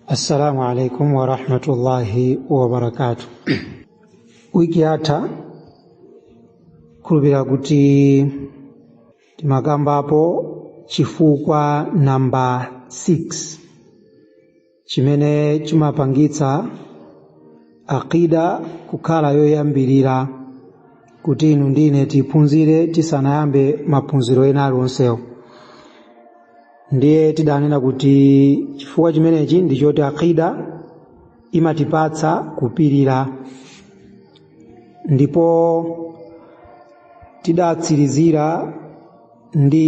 Assalamu alaikum wa rahmatullahi wa barakatuh. Wiki yatha khulupirira kuti tinakambapo chifukwa namba 6 chimene chimapangitsa aqida kukhala yoyambirira kuti inu ndine tiphunzire tisanayambe maphunziro ena alionsewo ndiye tidanena kuti chifukwa chimenechi ndi choti aqida imatipatsa kupirira ndipo tidatsirizira ndi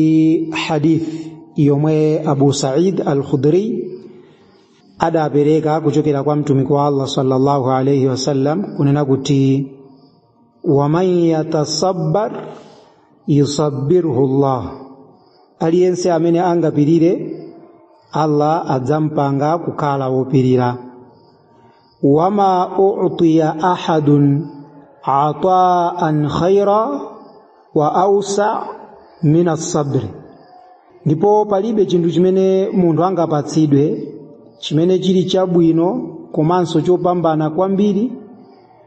hadith yomwe abu said al-khudri adapereka kuchokera kwa mtumiki wa allah sallallahu alaihi wasallam kunena kuti waman yatasabbar yusabbirhu llah aliyense amene angapirire allah adzampanga kukhala wopirira wama utiya ahadun ataan khaira wa ausa min assabri ndipo palibe chinthu chimene munthu angapatsidwe chimene chili chabwino komanso chopambana kwambiri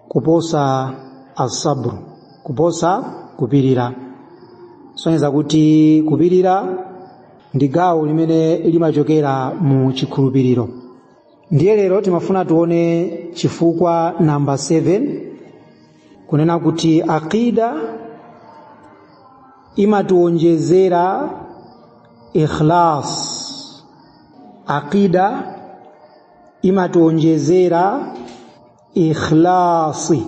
kuposa asabru kuposa kupirira sonyeza kuti kupirira ndi gawo limene limachokera mu chikhulupiriro ndiye lero timafuna tiwone chifukwa namba 7 kunena kuti aqida imatiwonjezera ikhlas aqida imatiwonjezera ikhlasi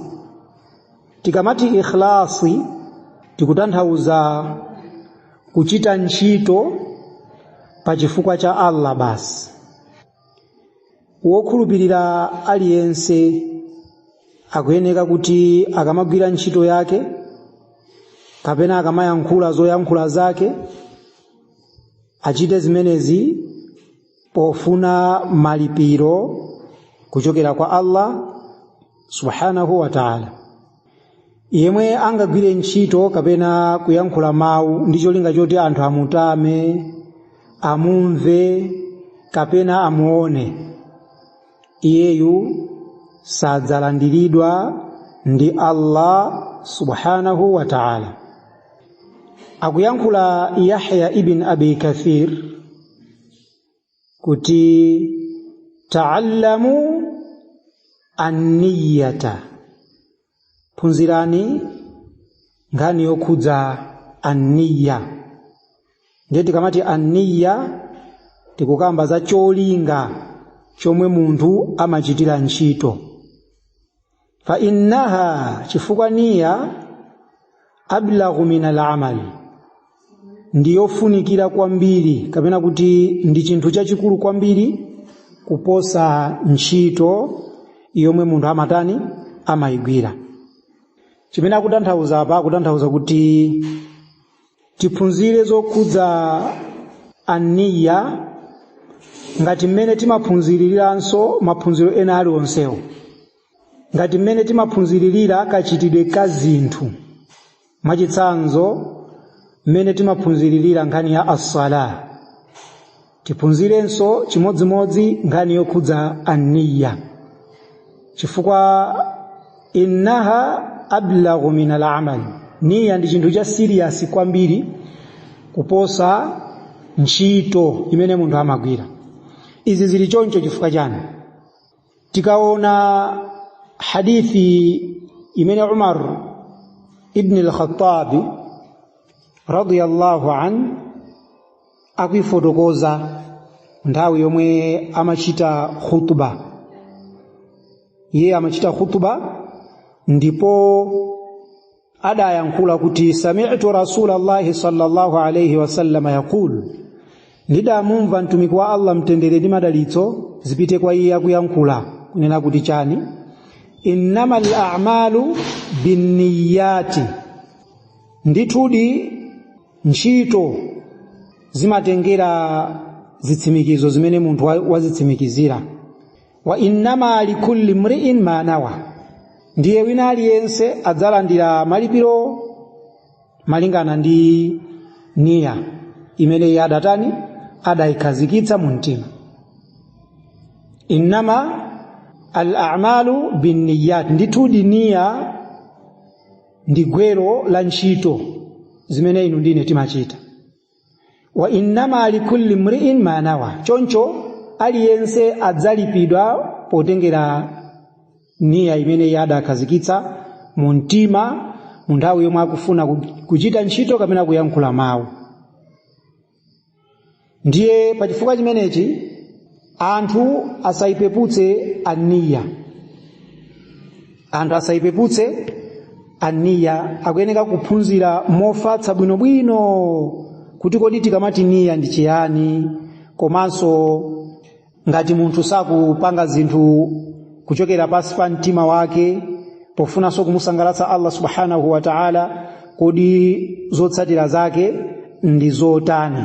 tikamati ikhlasi tikutanthauza kuchita ntchito pa chifukwa cha allah basi wokhulupirira aliyense akuyeneka kuti akamagwira ntchito yake kapena akamayankhula zoyankhula zake achite zimenezi pofuna malipiro kuchokera kwa Allah subhanahu wa ta'ala yemwe angagwire ntchito kapena kuyankhula mawu ndi cholinga choti anthu amutame amumve kapena amuone iyeyu sadzalandiridwa ndi Allah subhanahu wa ta'ala akuyankhula Yahya ibn Abi Kathir kuti ta'allamu anniyata phunzirani nkhani yokhudza anniya ndiye tikamati anniya tikukamba za cholinga chomwe munthu amachitira ntchito fa innaha chifukwa niya ablaghu min alamal ndiyofunikira kwambiri kapena kuti ndi chinthu chachikulu kwambiri kuposa ntchito yomwe munthu amatani amayigwira chimene akutanthauza apa akutanthauza kuti tiphunzire zokhudza anniya ngati mmene timaphunziriranso maphunziro ena aliwonsewo ngati mmene timaphunziririra kachitidwe ka zinthu mwachitsanzo mmene timaphunziririra nkhani ya assala tiphunzirenso chimodzimodzi nkhani yokhudza anniya chifukwa innaha ablaghu min alamal niya ndi chinthu cha serious kwambiri kuposa ntchito imene munthu amagwira izi zili choncho chifukwa chani tikaona hadithi imene Umar ibn al-Khattab radiyallahu an akuifotokoza nthawi yomwe amachita khutba iye amachita khutba ndipo adayankhula kuti sami'tu rasulallahi sallallahu alaihi wasallam yaqulu ndidamumva mtumiki wa allah mtendere ndi madalitso zipite kwa iye akuyankhula kunena kuti chani innamal a'malu binniyati ndithudi ntchito zimatengera zitsimikizo zimene munthu wa- wazitsimikizira wa innama likulli mri'in ma nawa ndiye wina aliyense adzalandira malipiro malingana ndi niya imene iye adatani adayikhazikitsa mu mtima innama al a'malu binniyati ndithudi niya ndi gwero la ntchito zimene inu ndine timachita wa innama likulli mri'in ma nawa choncho aliyense adzalipidwa potengera niya imene iye adakhazikitsa mu mtima mu nthawi yomwe akufuna ku- kuchita ntchito kapena kuyankhula mawu ndiye pa chifukwa chimenechi anthu asaipeputse aniya anthu asaipeputse aniya akuyeneka kuphunzira mofatsa bwinobwino kuti kodi tikamati niya ndi chiyani komanso ngati munthu sakupanga zinthu kuchokera pansi pa mtima wake pofunanso kumusangalatsa allah subhanahu wa taala kodi zotsatira zake ndi zotani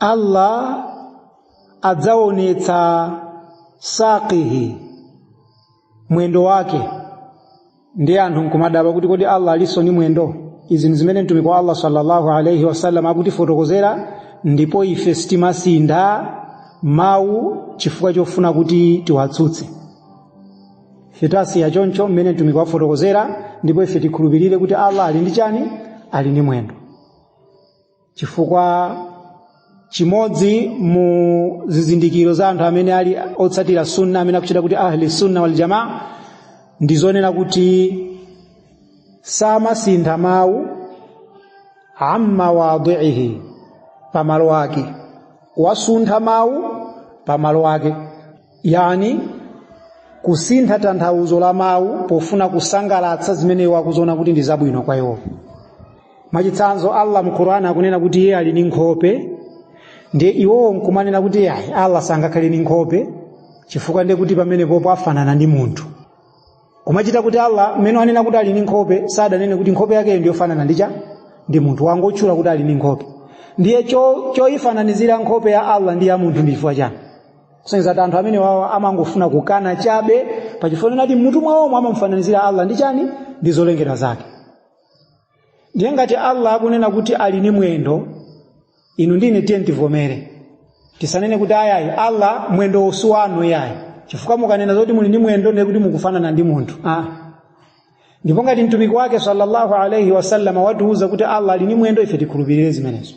Allah adzaonetsa saqihi mwendo wake ndi anthu nkumadabwa kuti kodi Allah alinso ni mwendo izi ndi zimene mtumiki wa Allah sallallahu alaihi wasallam akutifotokozera ndipo ife sitimasintha mawu chifukwa chofuna kuti tiwatsutse ife tasiya choncho mmene mtumiki wafotokozera ndipo ife tikhulupirire kuti Allah ali ndi chani ali ndi mwendo chifukwa chimodzi mu zizindikiro za anthu amene ali otsatira sunna amene akutchedwa kuti ahli sunna wal jamaa ndi zonena kuti samasintha mawu an mawadhiihi pamalo ake wasuntha mawu pamalo ake yani kusintha tanthauzo la mawu pofuna kusangalatsa zimene iwo akuziona kuti ndi zabwino kwa iwo mwachitsanzo allah mu qur'ani akunena kuti iye ali ndi nkhope ndiye iwowo nkumanena kuti ayi allah sangakhale ndi nkhope chifukwa ndiye kuti pamenepopo afanana ndi munthu kumachita kuti allah mmene wanena kuti ali ndi nkhope sadanene kuti nkhope yakeyo ndiyofanana ndi cha ndi munthu wangotchula kuti ali ndi nkhope ndiye cho- choyifananizira nkhope ya allah ndi ya munthu ndi chifukwa chani kusonyeza kuti anthu amenewawa amangofuna kukana chabe pachifukwa choti m'mutu mwawomo amamufananizira allah ndi chani ndi zolengedwa zake ndiye ngati allah akunena kuti ali ni mwendo inu ndine tiyeni tivomere tisanene kuti ayayi allah mwendo osawanu yayi chifukwa mukanena zoti muli ndi mwendo ndiye kuti mukufanana ndi munthu ah. ndipo ngati mtumiki wake sallallahu alaihi wasallam watiuza kuti allah ali ni mwendo ife tikhulupirire zimenezo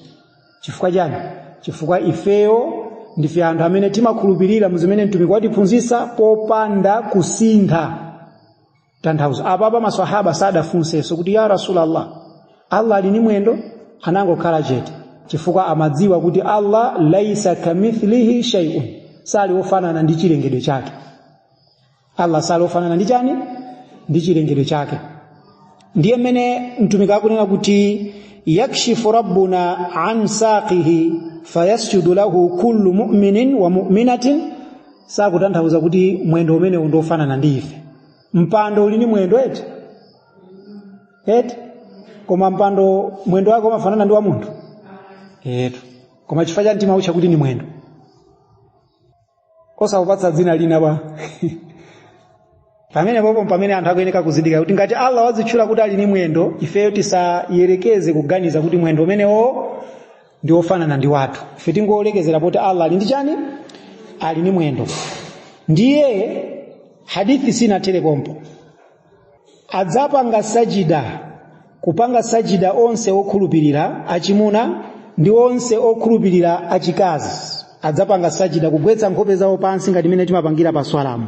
chifukwa chani chifukwa ifeyo ndife anthu amene timakhulupirira mu zimene mtumiki watiphunzitsa popanda kusintha tanthauzo apapa maswahaba sadafunsenso kuti ya rasulallah allah ali ni mwendo anangokhala chete chifukwa amadziwa kuti allah laisa kamithlihi shay'un sali wofanana ndi chilengedwe chake allah sali wofanana ndi chani ndi chilengedwe chake ndiye mmene mtumiki akunena kuti yakshifu rabbuna an saqihi fayasjudu lahu kullu mu'minin wa mu'minatin sakutanthauza kuti mwendo umene ndi ofanana ndi ife mpando uli ndi mwendo eti eti koma mpando mwendo wake umafanana ndi wa munthu eti koma chifukwa cha mtima ucha kuti ni mwendo osawupatsa dzina lina ba pamene popo pamene anthu akuyeneka kuzindikira kuti ngati allah wazitchula kuti ali ni mwendo ifeyo tisayerekeze kuganiza kuti mwendo umenewo ndi wofanana ndi wathu ife tingolekezera poti allah ali ndi chani ali ni mwendo ndiye hadithi sinathere pompo adzapanga sajida kupanga sajida onse okhulupirira achimuna ndi onse okhulupirira achikazi adzapanga sajida kugwetsa nkhope zawo pansi ngati mmene timapangira pa swalamu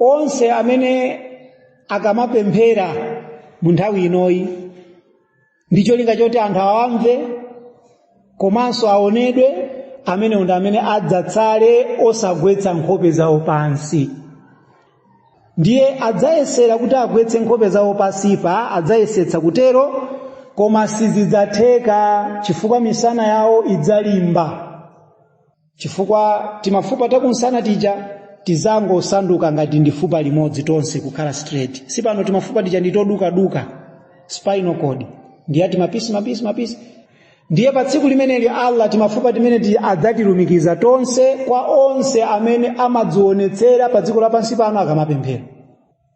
onse amene akamapemphera mu nthawi inoyi ndi cholinga choti anthu awamve komanso aonedwe amene ndi amene adzatsale osagwetsa nkhope zawo pansi ndiye adzayesera kuti agwetse nkhope zawo pansipa adzayesetsa kutero koma sizidzatheka chifukwa misana yawo idzalimba chifukwa timafupa takumsana tija tidzangosanduka ngati ndi fupa limodzi tonse kukhala straight sipano timafupa tija ndi todukaduka spinal cord ndiye ati mapisi mapisi mapisi ndiye pa tsiku limeneli allah timafupa timeneti adzatilumikiza tonse kwa onse amene amadzionetsera pa dziko lapansi pano akamapemphera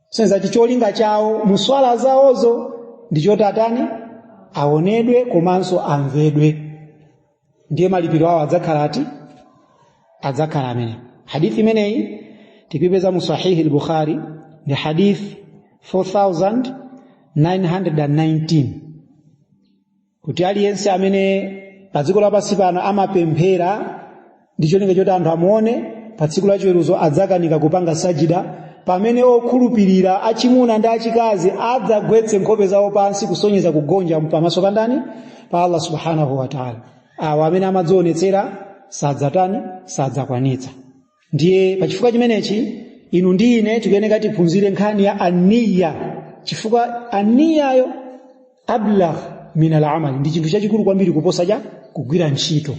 senza kuti cholinga chawo muswala zawozo ndi choti atani aonedwe komanso amvedwe ndiye malipiro awo adzakhala ati adzakhala amene hadithi imeneyi tikuipeza mu sahihi al-bukhari ndi hadith 4919 kuti aliyense amene pa dziko lapansi pano amapemphera ndi cholinga choti anthu amuone pa tsiku la chiweruzo adzakanika kupanga sajida pamene okhulupirira achimuna ndi achikazi adzagwetse nkhope zawo pansi kusonyeza kugonja pamaso pa ndani pa allah subhanahu wataala awa amene amadzionetsera sadzatani sadzakwanitsa ndiye pachifukwa chimenechi inu ndi ine tikuyeneka tiphunzire nkhani ya aniya chifukwa aniyayo ablagh min alamali ndi chinthu chachikulu kwambiri kuposa cha kugwira ntchito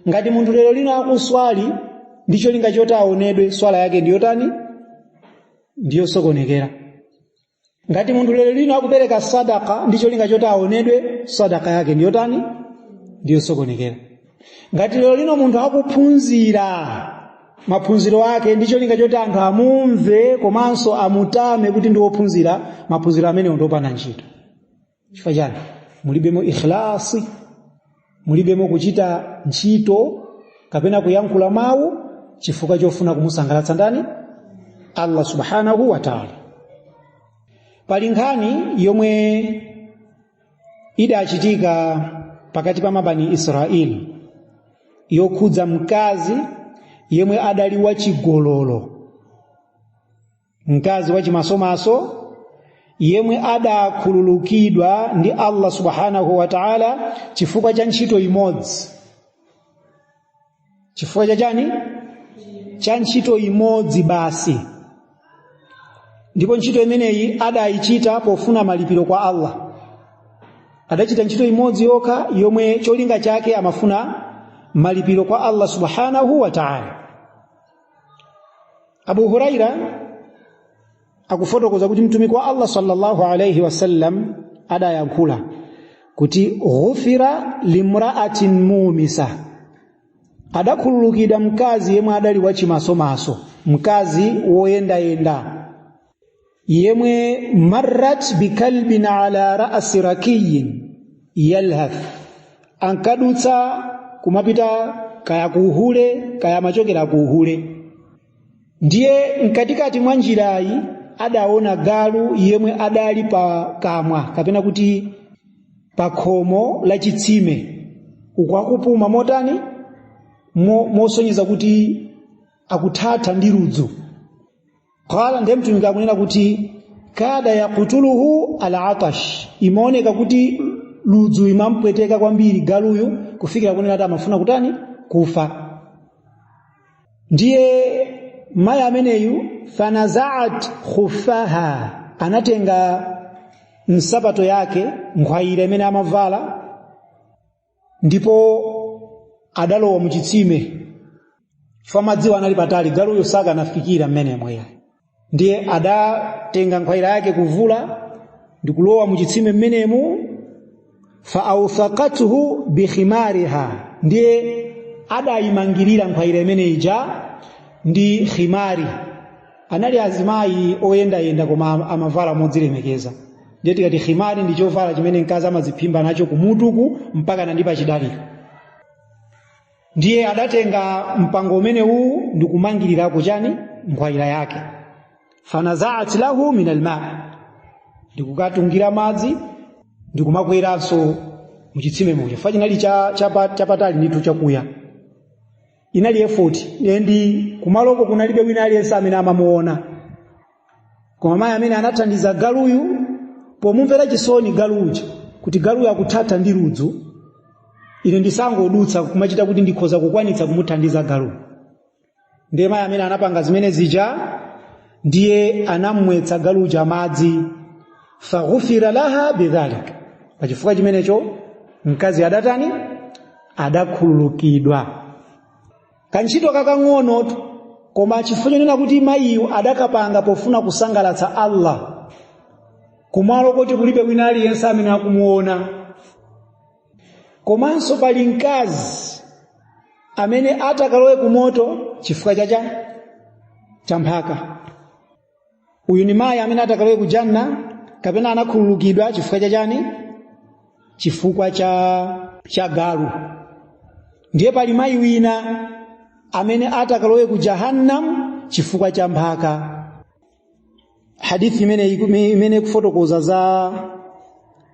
ngati munthu lero lino akuswali ndi cholinga choti aonedwe swala yake ndiyotani ndiyosokonekera ngati munthu lero lino akupereka sadaka ndi cholinga choti aonedwe sadaka yake ndiyotani ndiyosokonekera ngati lero lino munthu akuphunzira maphunziro ake ndi cholinga choti anthu amumve komanso amutame kuti ndi wophunzira maphunziro amenewo ndiopanda ntchito chifukwa chani mulibemo ikhlasi mulibemo kuchita ntchito kapena kuyankhula mawu chifukwa chofuna kumusangalatsa ndani allah subhanahu wa taala pali nkhani yomwe idachitika pakati pa mabani israeli yokhudza mkazi yemwe adali wachigololo mkazi wachimasomaso yemwe adakhululukidwa ndi Allah subhanahu wa ta'ala chifukwa cha ntchito imodzi chifukwa cha chani cha ntchito imodzi basi ndipo ntchito imeneyi adayichita pofuna malipiro kwa Allah adachita ntchito imodzi yokha yomwe cholinga chake amafuna malipiro kwa Allah subhanahu wa ta'ala Abu Huraira akufotokoza kuti mtumiki wa Allah sallallahu alayhi wasallam adayankhula kuti ghufira limra'atin mumisa adakhululukidwa mkazi yemwe adali wachimasomaso mkazi woyendayenda yemwe marrat bikalbin ala rasi rakiyin yalhath ankadutsa kumapita kaya kuuhule kaya amachokera kuuhule ndiye mkatikati mwa njirayi adaona galu yemwe adali pa kamwa kapena kuti pa khomo la chitsime uku akupuma motani mosonyeza kuti akuthatha ndi ludzu qala ndiye mtumiki akunena kuti kada yaqtuluhu alatash imaoneka kuti ludzu imampweteka kwambiri galuyu kufikira kunena kuti amafuna kutani kufa ndiye mayi ameneyu fanazaat khuffaha anatenga nsapato yake nkhwayira imene amavala ndipo adalowa mu chitsime chifukwa madziwa anali patali galuyo sakanafikira mmenemo iye ndiye adatenga nkhwayira yake kuvula ndikulowa mu chitsime mmenemu fa authaqathu bikhimariha ndiye adayimangirira nkhwayira imene ija ndi khimari anali azimayi oyendayenda koma amavala modzilemekeza ndiye tikati khimari ndi chovala chimene mkazi amadziphimba nacho kumutuku mpaka ndi pachidali ndiye adatenga mpango umenewu ndi kumangirirako chani nkhwayira yake fanazaat lahu min alma ndikukatungira madzi ndikumakweranso muchitsime muja fa chinali chapatali ndithu chakuya inali efoti ndi kumaloko kunalibe wina aliyense amene amamuona koma mayi amene anathandiza galuyu pomumvera chisoni galu uja kuti galuyu akuthatha ndi ludzu ine ndisangodutsa kumachita kuti ndikhoza kukwanitsa kumuthandiza galuyu ndiye mayi amene anapanga zimene zija ndiye anamwetsa galu uja madzi faghufira laha bidhalik pachifukwa chimenecho mkazi adatani adakhululukidwa kantchito kakang'onotu koma chifukwa chonena kuti mayiyu adakapanga pofuna kusangalatsa allah kumalo koti kulibe wina aliyense amene akumuona komanso pali mkazi amene atakalowe kumoto chifukwa cha cha mphaka uyu ni mayi amene atakalowe ku janna kapena anakhululukidwa chifukwa cha chani chifukwa cha galu ndiye pali mayi wina amene atakalowe ku jahannam chifukwa cha mphaka hadithi imene imene ikufotokoza za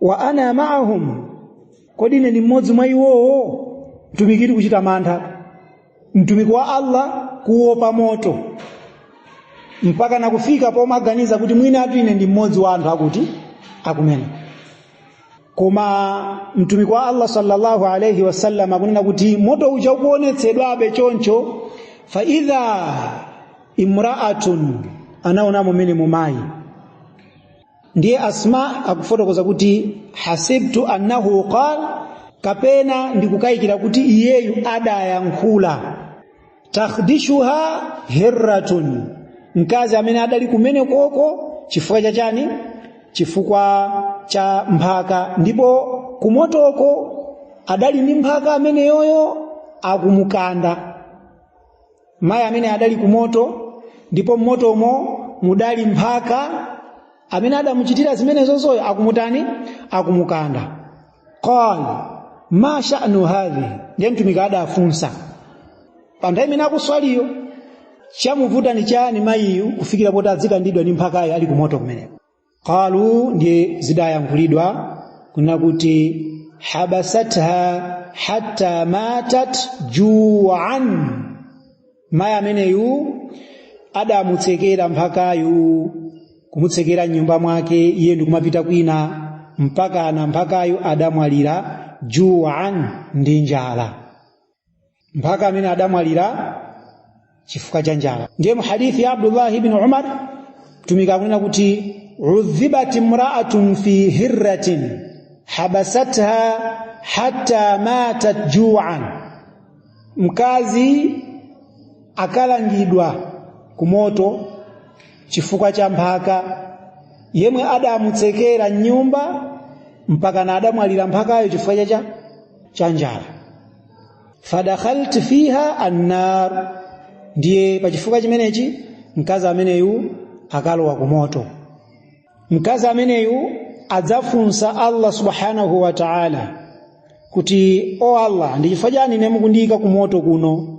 wa ana ma'ahum kodi ine ndi mmodzi mwa iwowo mtumiki ali kuchita mantha mtumiki wa Allah kuopa moto mpaka nakufika pomaganiza kuti mwinatu ine ndi mmodzi wa anthu akuti akumene koma mtumiki wa Allah sallallahu alayhi wasallam akunena kuti moto uja ukuonetsedwabe choncho fa idha imra'atun anaona mmenemo mayi ndiye asma akufotokoza kuti hasibtu annahu qal kapena ndikukayikira kuti iyeyu adayankhula takhdishuha hirratun mkazi amene adali kumene koko chifukwa cha chani chifukwa cha mphaka ndipo kumotoko adali ndi mphaka ameneyoyo akumukanda mayi amene adali ku moto ndipo mmotomo mudali mphaka amene adamuchitira zimenezozoyo akumutani akumukanda qal ma sha'nu hadhi ndiye mtumiki adafunsa pa nthawi imene akuswaliyo chamuvuta ni chani mayiyu kufikira poti adzikandidwa ndi mphakayo ali kumoto kumeneko qalu ndiye zidayankhulidwa kunena kuti habasatha hatta matat juan mayi ameneyu adamutsekera mphakayu kumutsekera mnyumba mwake iye ndikumapita kwina mpakana mphakayu adamwalira juan ndi njala mphaka amene adamwalira chifukwa cha njala ndiye mu hadithi ya abdullah ibn umar mtumiki akunena kuti udhibat imraatun fi hirratin habasatha hatta matat juan mkazi akalangidwa kumoto chifukwa cha mphaka yemwe adamutsekera mnyumba mpaka na adamwalira mphakayo chifukwa cha njala fadakhalat fiha annar ndiye pachifukwa chimenechi mkazi ameneyu akalowa ku moto mkazi ameneyu adzafunsa allah subhanahu wa taala kuti o allah ndi chifukwa chani ine mukundiyika ku moto kuno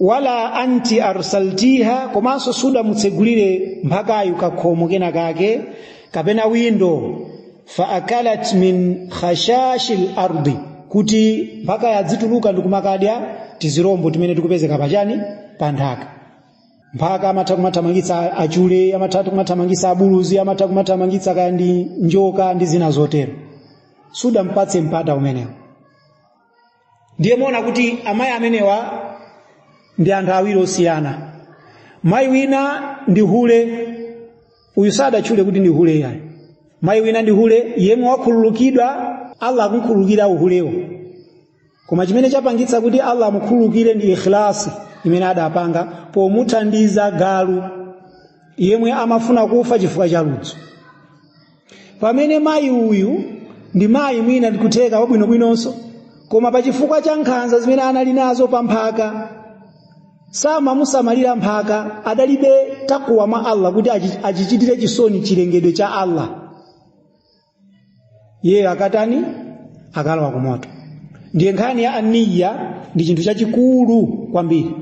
wala anti arsaltiha komanso sudamutsegulire mphakayo kakhomo kena kake kapena windo fa akalat min khashashi lardi kuti mphakayo adzituluka ndi kumakadya tizirombo timene tikupezeka pachani pa nthaka mphaka amatha kumathamangitsa achule amatha kumathamangitsa abuluzi amatha kumathamangitsa kaya ndi njoka ndi zina zotero sudampatse mpata umenewo ndiye muona kuti amayi amenewa ndi anthu awiri osiyana mayi wina ndi hule uyu sadatchule kuti ndi hule yayi mayi wina ndi hule yemwe wakhululukidwa allah akumkhululukira uhulewo koma chimene chapangitsa kuti allah amukhululukire ndi ikhlasi imene adapanga pomuthandiza galu yemwe amafuna kufa chifukwa cha ludzu pamene mayi uyu ndi mayi mwina ndikutheka wabwinobwinonso koma pa chifukwa cha nkhanza zimene anali nazo pa mphaka samamusamalira mphaka adalibe takuwa mwa allah kuti achichitire chisoni chilengedwe cha allah iye akatani akalowa kumoto ndiye nkhani ya niya ndi chinthu chachikulu kwambiri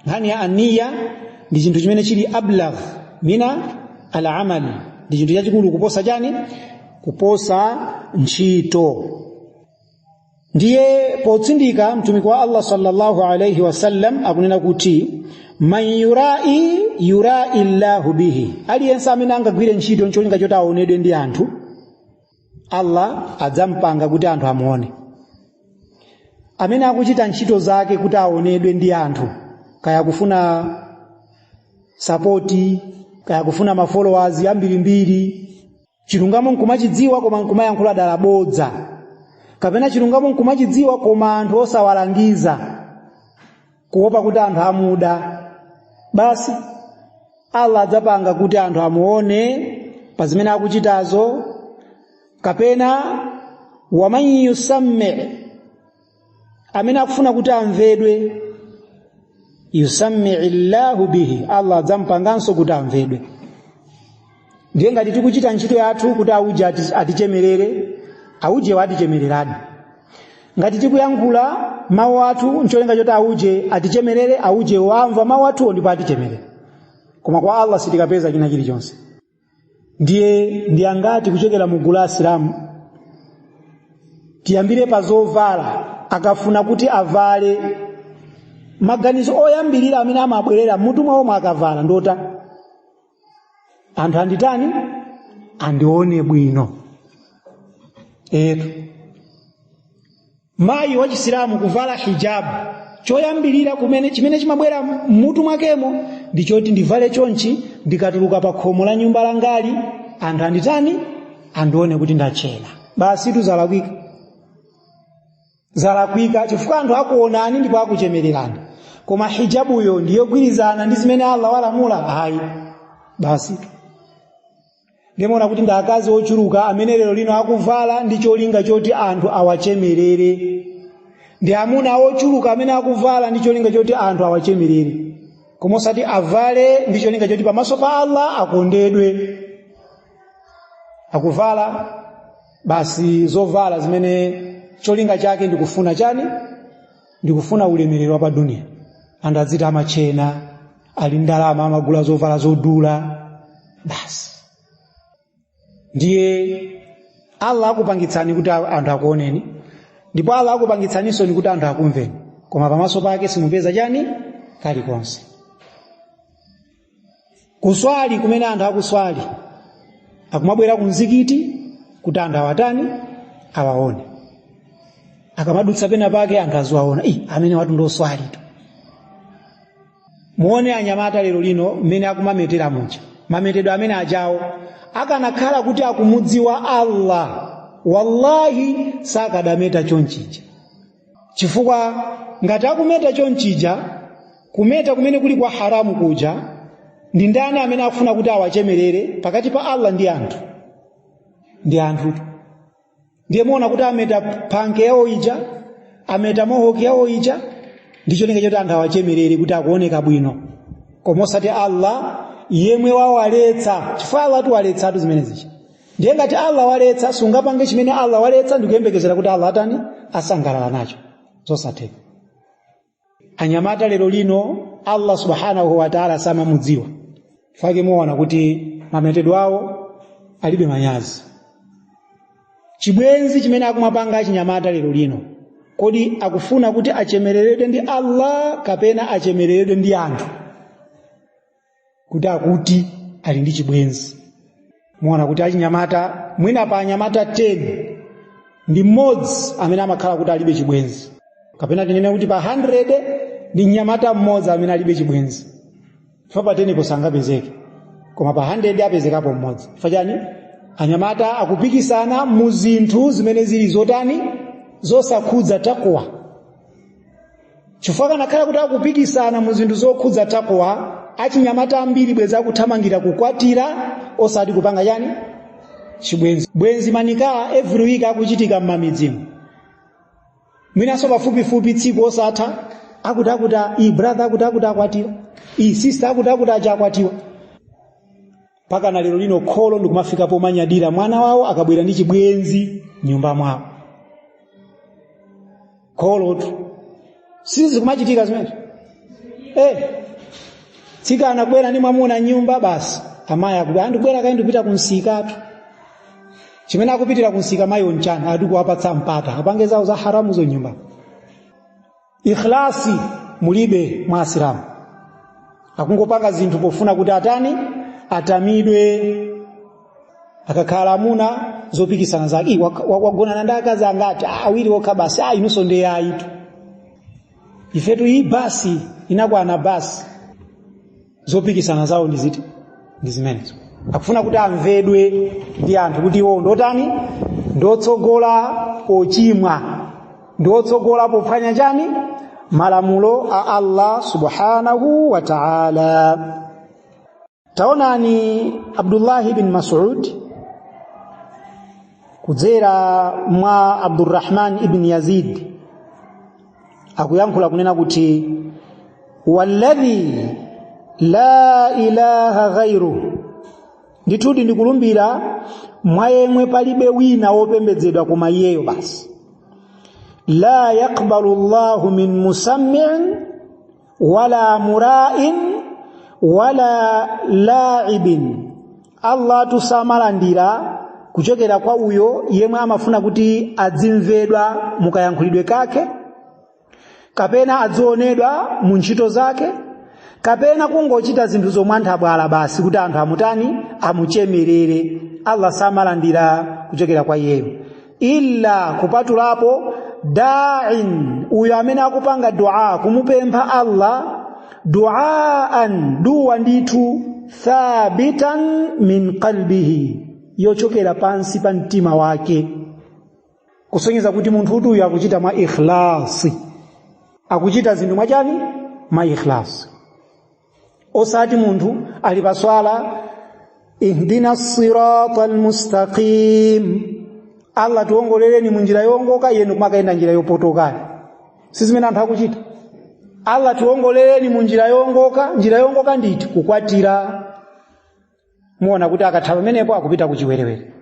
nkhani ya niya ndi chinthu chimene chili ablagh minal amali ndi chinthu chachikulu kuposa chani kuposa ntchito ndiye potsindika mtumiki wa allah sallallahu alaihi wasallam akunena kuti man yurai yurai llahu bihi aliyense amene angagwire ntchito ncholinga choti aonedwe ndi anthu allah adzampanga kuti anthu amuone amene akuchita ntchito zake kuti aonedwe ndi anthu kaya kufuna sapoti kaya kufuna mafollowers ambirimbiri chilungamo nkumachidziwa koma nkumayankhula dala bodza kapena chilungamo nkumachidziwa koma anthu osawalangiza kuopa kuti anthu amuda basi allah adzapanga kuti anthu amuone pa zimene akuchitazo kapena waman yusammii amene akufuna kuti amvedwe yusammii llahu bihi allah adzampanganso kuti amvedwe ndiye ngati tikuchita ntchito yathu kuti auje atichemerere aujewa atichemereradi ngati tikuyankhula mawu athu ncholinga choti auje atichemerere auje wamva mawu athuwo ndipo atichemerere koma kwa allah sitikapeza china chilichonse ndiye ndi angati kuchokera mu gulu la asilamu tiyambire pa zovala akafuna kuti avale maganizo oyambirira amene amabwerera mmutu mwawomo akavala ndota anthu anditani andione bwino etu mayi wachisilamu kuvala hijabu choyambirira kumene chimene chimabwera mmutu mwakemo ndi choti ndivale chonchi ndikatuluka pa khomo la nyumba langali anthu anditani andione kuti ndachena basi tu zalakwika zalakwika chifukwa anthu akuonani ndipo akuchemererani koma hijabuyo ndiyogwirizana ndi zimene allah walamula ayi basi ndimaona kuti ndi akazi ochuluka amene lero lino akuvala ndi cholinga choti anthu awachemerere ndi amuna ochuluka amene akuvala ndi cholinga choti anthu awachemerere koma osati avale ndi cholinga choti pamaso pa allah akondedwe akuvala basi zovala zimene cholinga chake ndikufuna chani ndikufuna ulemerero wa pa duniya anthu adziti amatchena ali ndalama amagula zovala zodula basi ndiye allah akupangitsani kuti anthu akuoneni ndipo allah akupangitsaninsoni kuti anthu akumveni koma pamaso pake simupeza chani kalikonse kuswali kumene anthu akuswali akumabwera ku mzikiti kuti anthu awatani awaone akamadutsa pena pake anthu aziwaona ih amenewatu ndi oswalitu muone anyamata lero lino mmene akumametera muja mametedwe amene ajawo akanakhala kuti akumudziwa allah wallahi sakadameta chonchija chifukwa ngati akumeta chonchija kumeta kumene kuli kwa haramu kuja ndi ndani amene akufuna kuti awachemerere pakati pa allah ndi anthu ndi anthu ndiye muona kuti ameta panke yawo ija ameta mohoki yawo ija ndi cholinga chakuti anthu awachemerere kuti akuoneka bwino koma osati allah yemwe wawaletsa chifukwa allah atuwaletsatu zimene zija ndiye ngati allah waletsa sungapange chimene allah waletsa ndikuyembekezera kuti allah atani asangalala nacho zosatheka anyamata lero lino allah subhanahu wataala samamudziwa chifukwa chake muona kuti mametedwe awo alibe manyazi chibwenzi chimene akumapanga achinyamata lero lino kodi akufuna kuti achemereredwe ndi allah kapena achemereredwe ndi anthu kuti akuti ali ndi chibwenzi muona kuti achinyamata mwina pa anyamata 10 ndi mmodzi amene amakhala kuti alibe chibwenzi kapena tinene kuti pa 100 ndi mnyamata mmodzi amene alibe chibwenzi chifukwa pa 10 po sangapezeke koma pa 100 apezekapo mmodzi chifukwa chani anyamata akupikisana mu zinthu zimene zili zotani zosakhudza takwa chifukwa kanakhala kuti akupikisana mu zinthu zokhudza takwa achinyamata ambiri bwenzi akuthamangira kukwatira osati kupanga chani chibwenzi bwenzi manika every week akuchitika m'mamidzimu mwinanso pafupifupi tsiku osatha akuti akuti iii brother akuti akuti akwatira iii sister akuti akuti achakwatiwa mpaka na lero lino kholo ndikumafika pomanyadira mwana wawo akabwera ndi chibwenzi mnyumba mwawo kholotu sizi zikumachitika zimenezo eh mtsikana akubwera ndi mwamuna mnyumba basi amayi akuti ah ndibwera kaye ndipita kumsikatu chimene akupitira kumsika mayiwo nchani akuti kuwapatsa mpata apange zawo za haramuzo mnyumba ikhlasi mulibe mwa asilamu akungopanga zinthu pofuna kuti atani atamidwe akakhala amuna zopikisana zake wagonana ndi akazi angati awiri okha basi inunso nde ayitu ifetu iii basi inakwana basi zopikisana zawo ndi ziti ndi zimenezo akufuna kuti amvedwe ndi anthu kuti iwo ndotani ndotsogola pochimwa ndotsogola pophwanya chani malamulo a allah subhanahu wa taala taonani abdullahi ibn masud kudzera mwa abdurrahman ibn yazid akuyankhula kunena kuti walladhi la ilaha ghairu ndithudi ndikulumbira mwa yemwe palibe wina wopembedzedwa koma iyeyo basi la yaqbalu llahu min musammiin wala mura'in wala la'ibin Allah tu samalandira kuchokera kwa uyo yemwe amafuna kuti adzimvedwa mukayankhulidwe kake kapena adzionedwa mu ntchito zake kapena kungochita zinthu zomwe zachibwana basi kuti anthu amutani amuchemerere Allah samalandira kuchokera kwa iyeyo illa kupatulapo da'in uyo amene akupanga dua kumupempha Allah duaan dua ndithu thabitan min qalbihi yochokera pansi pa mtima wake kusonyeza kuti munthutu uyu akuchita mwa ikhlasi akuchita zinthu mwachani mwa ikhlasi osati munthu ali pa swala ihdina sirata almustaqim allah tiwongolereni mu njira yowongoka ndiyeno kumakayenda njira yopotokayo si zimene anthu akuchita allah tiwongolereni mu njira yowongoka njira yowongoka ndi iti kukwatira mumuona kuti akatha pamenepo akupita ku chiwerewere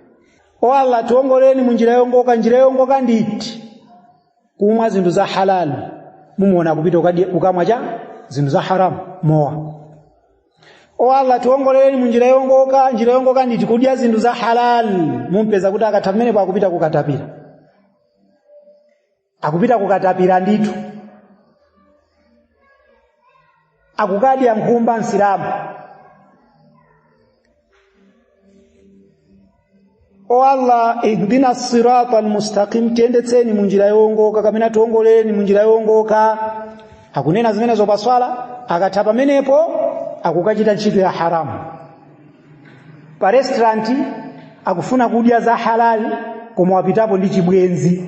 o allah tiongoleni mu njira yongoka njira yongoka ndi iti kumwa zinthu za halal mumuona akupita kukamwa cha zinthu za haramu mowa o allah tiongoleni mu njira yongoka njira yongoka ndi iti kudya zinthu za halal mumpeza kuti akatha pamenepo akupita kukatapira akupita kukatapira ndithu akukadya nkhumba msilamu o allah ihdina sirata almustaqim tiyendetseni munjira yowongoka kapena tiwongoleni munjira yowongoka akunena zimenezo paswala akatha pamenepo akukachita ntchito ya haramu pa restaurant akufuna kudya za halali koma wapitapo ndi chibwenzi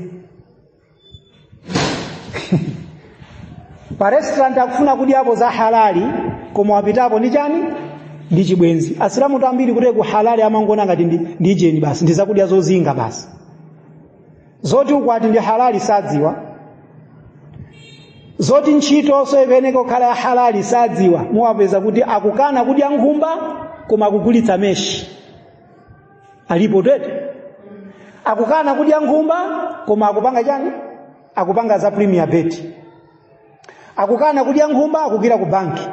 pa restaurant akufuna kudyapo za halali koma wapitapo ndi chani ndi chibwenzi asilamu ambiri kuti halali amangoona ngati ndi ujeni basi ndi zakudya zozinga basi zoti ukwati ndi halali sadziwa zoti ntchitonso ifunika kukhala ya halali sadziwa muwapeza kuti akukana kudya nkhumba koma akugulitsa meshi alipo twete akukana kudya nkhumba koma akupanga chani akupanga za premier bet akukana kudya nkhumba akugwira ku banki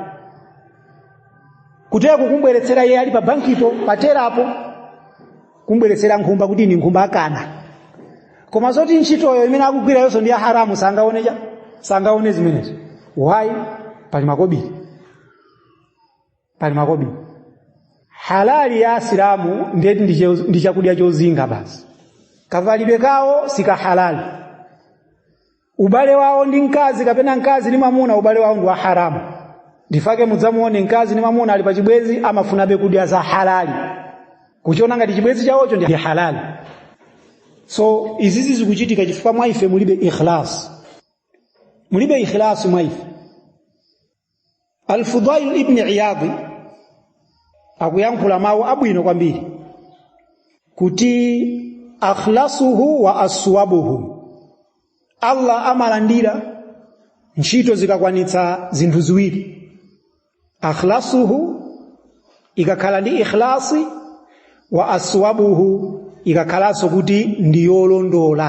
kuti kumbweretsera iye ali pa bankipo pa telapo kumbweretsera nkhumba kuti ndi nkhumba akana koma zoti ntchitoyo imene akugwira yonso ndi ya haramu sangaone chani sangaone zimenezo why pali makobiri pali makobiri halali ya asilamu ndiye kuti ndi chakudya chozinga basi kavalidwe kawo si kahalali ubale wawo ndi mkazi kapena mkazi ndi mwamuna ubale wawo ndi wa haramu ndichifukwa chake mudzamuone mkazi ndi mwamuna ali pa chibwenzi amafunabe kudya za halali kuchiona ngati chibwenzi chawocho ndi halali so izizi zikuchitika chifukwa mwa ife mulibe ikhlas mulibe ikhlas mwa ife alfudail ibni iyadi akuyankhula mawu abwino kwambiri kuti akhlasuhu wa aswabuhu allah amalandira ntchito zikakwanitsa zinthu ziwiri akhlasuhu ikakhala ndi ikhlasi wa aswabuhu ikakhalanso kuti ndi yolondola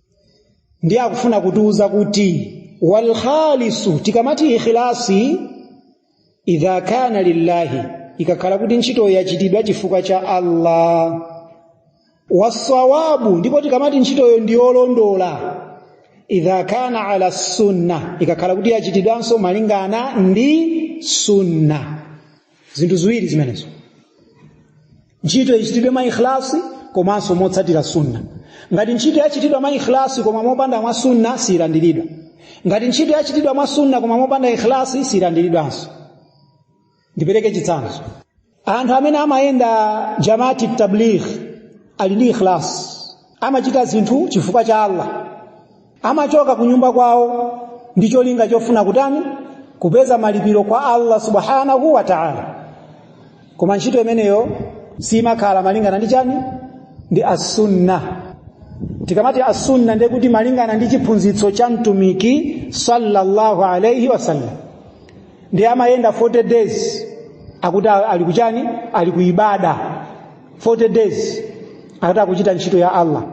ndiye akufuna kutiuza kuti wal khalisu tikamati ikhilasi idha kana lillahi ikakhala kuti ntchitoyo yachitidwa chifukwa cha allah wassawabu ndipo tikamati ntchitoyo ndiyolondola idha kana ala sunna ikakhala kuti yachitidwanso malingana ndi sunna zinthu ziwiri zimenezo ntchito ichitidwe mwa ikhlasi komanso motsatira sunna ngati ntchito yachitidwa mwa ikhlasi koma mopanda mwa sunna siyilandiridwa ngati ntchito yachitidwa mwa sunna koma mopanda ikhlasi siyilandiridwanso ndipereke chitsanzo anthu amene amayenda jamati tabligh ali ndi ikhlasi amachita zinthu chifukwa cha allah amachoka ku nyumba kwawo ndi cholinga chofuna kutani kupeza malipiro kwa allah subhanahu wa taala koma ntchito imeneyo siimakhala malingana ndi chani ndi assunna tikamati assunna ndiye kuti malingana ndi chiphunzitso cha mtumiki sallallahu alaihi wasallam ndiye amayenda 40 days akuti ali kuchani ali kuibada 40 days akuti akuchita ntchito ya allah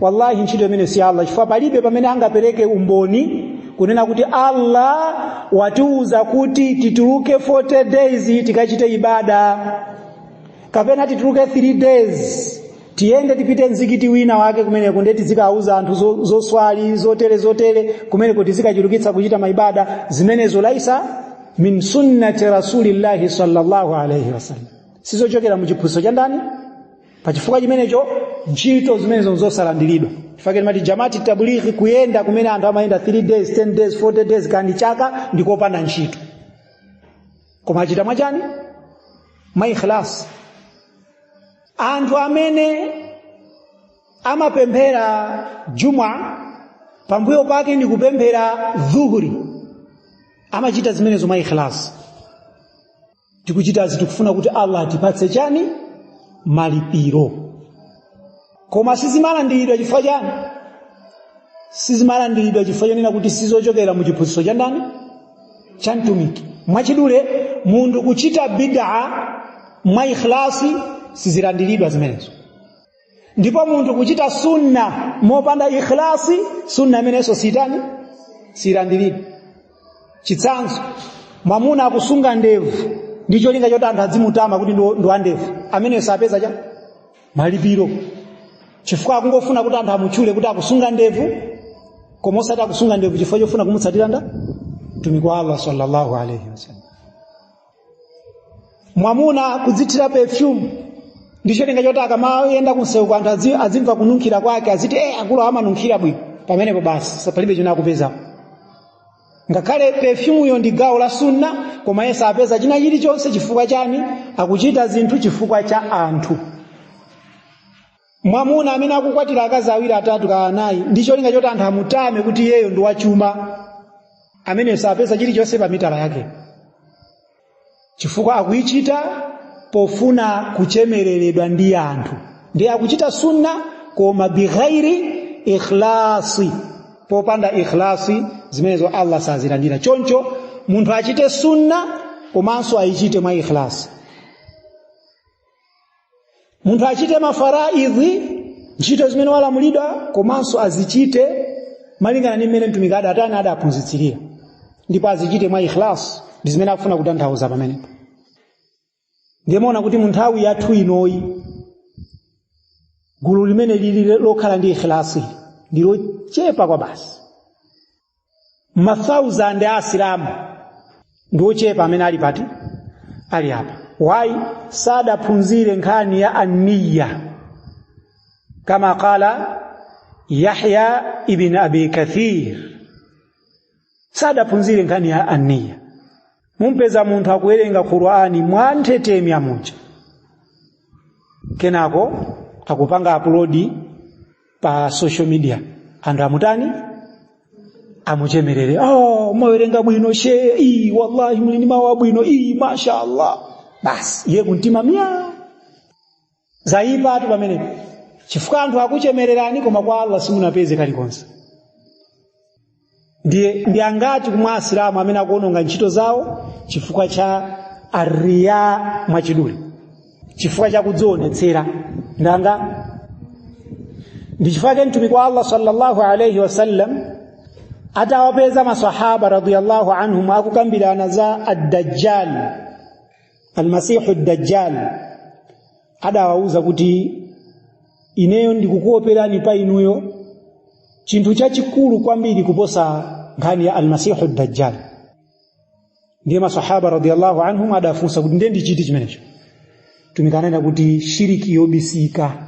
wallahi ntchito imene si allah chifukwa palibe pamene angapereke umboni kunena kuti allah watiuza kuti tituluke 40 days tikachite ibada kapena tituluke 3 days tiyende tipite mzikiti wina wake kumeneko ndiye tizikauza anthu zo- zoswali zotere zotere kumeneko tizikachulukitsa kuchita maibada zimenezo laisa min sunnati rasulillahi sallallahu alaihi wasallam sizochokera mu chiphunzitso cha ndani pa chifukwa chimenecho ntchito zimenezo nzosalandiridwa chifukwa ma jamati tablighi kuyenda kumene anthu amayenda 3 days 10 days 40 days kandi chaka ndikopanda ntchito koma achita mwachani mwa ikhlas anthu amene amapemphera juma pambuyo pake ndi kupemphera dhuhuri amachita zimenezo mwa ikhlas tikuchitazi tikufuna kuti allah atipatse chani malipiro koma sizimalandiridwa chifukwa chani sizimalandiridwa chifukwa chonena kuti sizochokera mu chiphunzitso cha ndani cha mtumiki mwachidule munthu kuchita bidaa mwa ikhlasi sizilandiridwa zimenezo ndipo munthu kuchita sunna mopanda ikhlasi sunna imeneyonso sitani silandiridwa chitsanzo mwamuna akusunga ndevu ndi cholinga choti anthu adzimutama kuti ndi wandevu ameneyo sapeza cha malipiro chifukwa akungofuna kuti anthu amutchule kuti akusunga ndevu koma osati akusunga ndevu chifukwa chofuna kumutsatira nda mtumiki wa allah sallallahu alaihi wasallam mwamuna kudzithira perfume ndi cholinga choti akamayenda kunsewuko anthu azi- azimva kununkhira kwake aziti e akulu amanunkhira bwino pamenepo basi sa- palibe china akupezapo ngakhale perfumeyo ndi gawo la sunna koma iye sapeza china chilichonse chifukwa chani akuchita zinthu chifukwa cha anthu mwamuna amene akukwatira akazi awiri atatu ka anayi ndi cholinga choti anthu amutame kuti iyeyo ndi wachuma ameneyo sapeza chilichonse pa mitala yake chifukwa akuyichita pofuna kuchemereredwa ndi anthu ndiye akuchita sunna koma bighairi ikhlasi popanda ikhlasi zimenezo allah sazilandira choncho munthu achite sunna komanso ayichite mwa ikhlasi munthu achite mafaraidhi ntchito zimene walamulidwa komanso azichite malingana ndi mmene mtumiki adatani adaphunzitsirira ndipo azichite mwa ikhlas ndi zimene akufuna kutanthauza pamenepo ndimaona kuti mu nthawi yathu inoyi gulu limene lili lokhala ndi ikhilasi ndilochepa kwabasi mathausand a asilamu ndi ochepa amene ali pati ali apa why sadaphunzire nkhani ya anniya kama qala yahya ibn abi kathir sadaphunzire nkhani ya anniya mumpeza munthu akuwerenga qur'ani mwa nthetemya muja kenako akupanga upload pa social media anthu amutani amuchemerere oh, mwawerenga bwino she ii wallahi muli ndi mawu abwino ii mashallah basi iye kumtima myaa zaipatu pamenepo chifukwa anthu akuchemererani koma kwa allah simunapeze kalikonse ndiye ndi angati mwa asilamu amene akuononga ntchito zawo chifukwa cha ariya mwachidule chifukwa cha kudzionetsera ndanga ndi chifukwa chake mtumiki wa allah sallallahu alaihi wasallam atawapeza masahaba radiyallahu anhum akukambirana za addajjal almasihu dajjal adawauza kuti ineyo ndikukuoperani pa inuyo chinthu chachikulu kwambiri kuposa nkhani ya almasihu dajjal ndiye masahaba radiyallahu anhum adafunsa kuti ndiye ndi chiti chimenecho mtumiki ananena kuti shiriki yobisika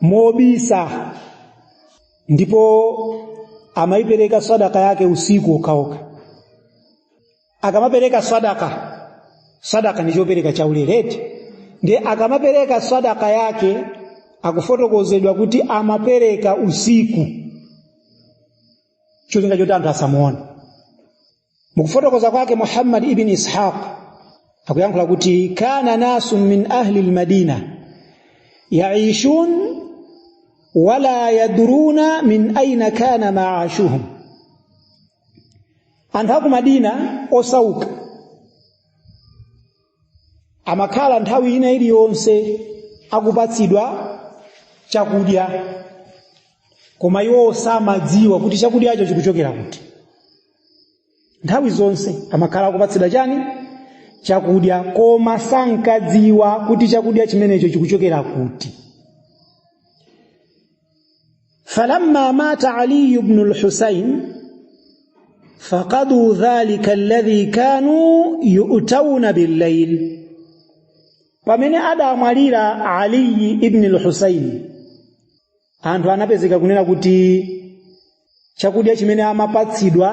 mobisa ndipo amaipereka sadaka yake usiku okhaokha akamapereka sadaka sadaka ndi chopereka chaulere eti ndiye akamapereka sadaka yake akufotokozedwa kuti amapereka usiku cholinga choti anthu asamuone mukufotokoza kwake muhammad ibn ishaq akuyankhula kuti kana nasun min ahli lmadina yaishun wala yadruna min aina kana maashuhum anthu aku madina osauka amakhala nthawi ina iliyonse akupatsidwa chakudya koma iwo samadziwa kuti chakudyacho chikuchokera kuti nthawi zonse amakhala akupatsidwa chani chakudya koma sankadziwa kuti chakudya chimenecho chikuchokera kuti falamma mata aliyu bnu lhusain faqaduu dhalika alladhi kanu yu'tauna billayl pamene adamwalira aliyi ibni lhusaini anthu anapezeka kunena kuti chakudya chimene amapatsidwa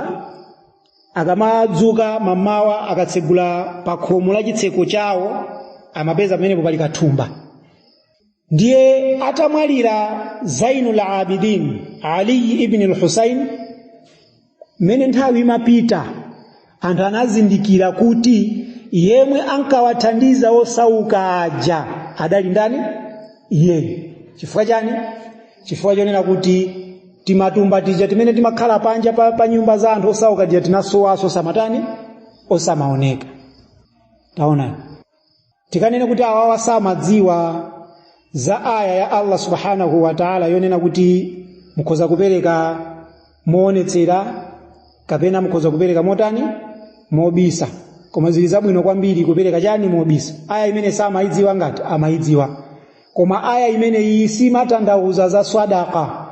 akamadzuka mamawa akatsegula pa khomo la chitseko chawo amapeza pamenepo pali kathumba ndiye atamwalira zainul abidin ali ibn al-husain mmene nthawi imapita anthu anazindikira kuti yemwe ankawathandiza osauka aja adali ndani iye chifukwa chani chifukwa chonena kuti timatumba tija timene timakhala panja pa nyumba za anthu osauka aja tinasowaso osamatani osamaoneka taonani tikanene kuti awawa samadziwa za aya ya allah subhanahu wa taala yonena kuti mukhoza kupereka moonetsera kapena mukhoza kupereka motani mobisa koma zili zabwino kwambiri kupereka chani mobisa aya imene samayidziwa ngati amayidziwa koma aya imene iyi siimatanthauza za swadaka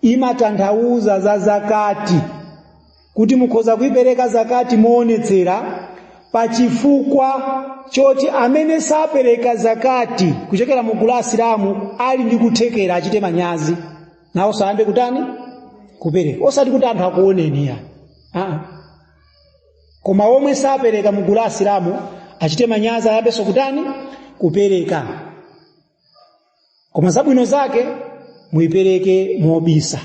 imatanthauza za zakati kuti mukhoza kuipereka zakati moonetsera pa chifukwa choti amene sapereka zakati kuchokera mu gulu la asilamu ali ndi kuthekera achite manyazi nawonso ayambe kutani kupereka osati kuti anthu akuoneni iyayi koma omwe sapereka mu gulu la asilamu achite manyazi ayambenso kutani kupereka koma zabwino zake muyipereke mobisa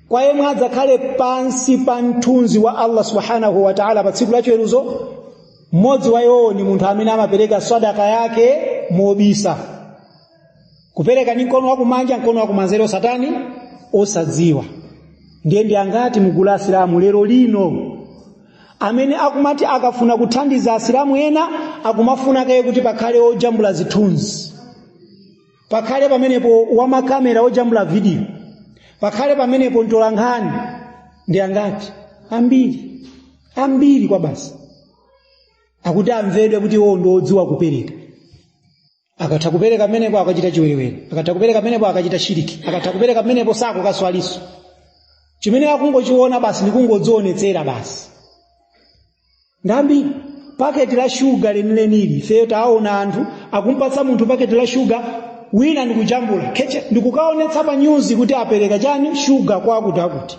kwa omwe adzakhale pansi pa mthunzi wa allah subhanahu wa taala pa tsiku lachiweruzo mmodzi wa iwowo ndi munthu amene amapereka sadaka yake mobisa kupereka ndi mkono wakumanja mkono wakumanzere osatani osadziwa ndiye ndi angati mu gulu la asilamu lero lino amene akumati akafuna kuthandiza asilamu ena akumafuna kaye kuti pakhale ojambula zithunzi pakhale pamenepo wamakamera ojambula vidiyo pakhale pamenepo mtolankhani ndi angati ambiri ambiri kwabasi akuti amvedwe kuti iwo ndi odziwa kupereka akatha kupereka pamenepo akachita chiwerewere akatha kupereka pamenepo akachita shiriki akatha kupereka pamenepo sakukaswaliso chimene akungochiona basi ndikungodzionetsera basi ndambiri paketi la shuga lenilenili ifeyo taona anthu akumpatsa munthu paketi la shuga wina ndikujambula keche ndikukaonetsa pa nyuzi kuti apereka chani shuga kwa akuti akuti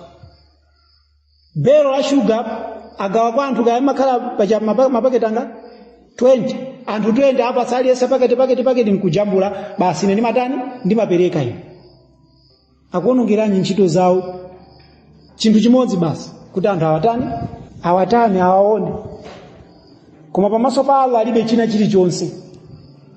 belo la shuga agawa kwa anthu kaya amakhala pachani mapa- mapaketi angati 20 anthu 20 apatsa aliyense paketi paketi paketi nkujambula basi ine ndimatani ndimapereka ine akuonongeranji ntchito zawo chinthu chimodzi basi kuti anthu awatani awatani awaone koma pamaso pa allah alibe china chilichonse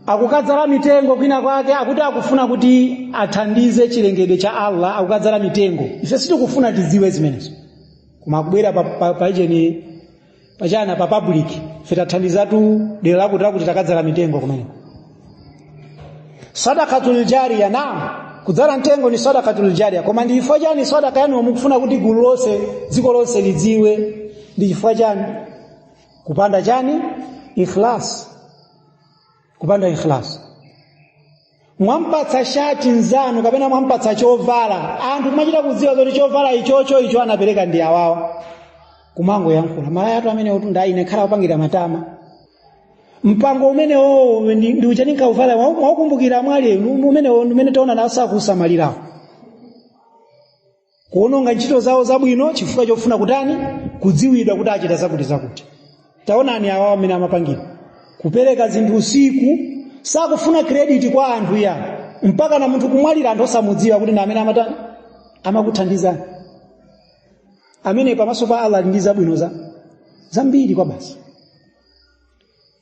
akukadzala mitengo kwina kwake akuti akufuna kuti athandize chilengedwe cha allah akukadzala mitengo ife sitikufuna tidziwe zimenezo koma akubwera pa, pa, pa ujeni pachani pa public ife tathandizatu dera lakuti lakuti takadzala mitengo kumeneko sadakatul jariya naam kudzala mtengo ni sadakatul jariya koma ndi chifukwa chani sadaka yanu mukufuna kuti gulu lonse dziko lonse lidziwe ndi chifukwa chani kupanda chani ikhlas kupanda ikhlas mwampatsa shati mnzanu kapena mwampatsa chovala anthu kumachita kudziwa kuti chovala ichocho icho anapereka ndi awawa kumangoyankhula malaya athu amenewotu ndi ine nkhala kupangira matama mpango umenewo ndi uchani ukauvala mwaukumbukira mwali umene umene taona naso kusamalirawo kuononga ntchito zawo zabwino chifukwa chofuna kutani kudziwidwa kuti achita zakuti zakuti taonani awa amene amapangira kupereka zinthu usiku sakufuna krediti kwa anthu ya mpakana munthu kumwalira anthu osamudziwa kuti ndi amene amatani amakuthandizani amene pamaso pa allah ali ndi zabwino za zambiri kwabasi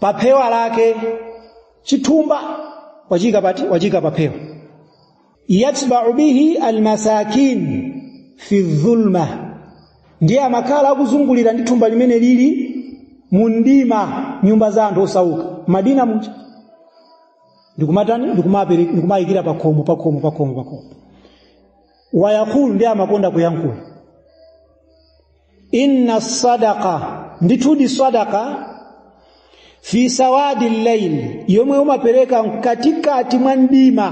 pa phewa lake chithumba wachiika pati wachiika pa phewa yatba'u bihi almasakin fi dhulma ndiye amakhala akuzungulira ndi thumba limeneli mumdima nyumba za anthu osauka madina muja ndikumatani ndikumapereka ndikumayikira pakhomo pakhomo pakhomo pakhomo wayaqulu ndiye amakonda kuyankhula inna sadaqa ndithudi sadaqa fi sawadi llaili yomwe umapereka mkatikati mwa mdima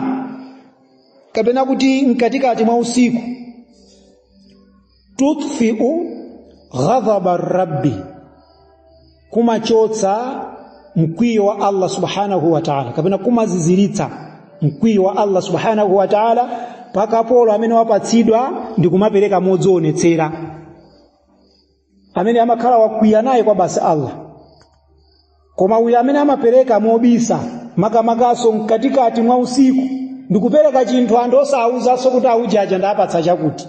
kapena kuti mkatikati mwa usiku tutfiu ghadhaba rabbi kumachotsa mkwiyo wa Allah subhanahu wa ta'ala kapena kumaziziritsa mkwiyo wa Allah subhanahu wa ta'ala pa kapolo amene wapatsidwa ndi kumapereka modzionetsera amene amakhala wakwiya naye kwabasi Allah koma uyu amene amapereka mobisa makamakanso mkatikati mwa usiku ndikupereka chinthu anthu osawuzanso kuti aujaja ndawapatsa chakuti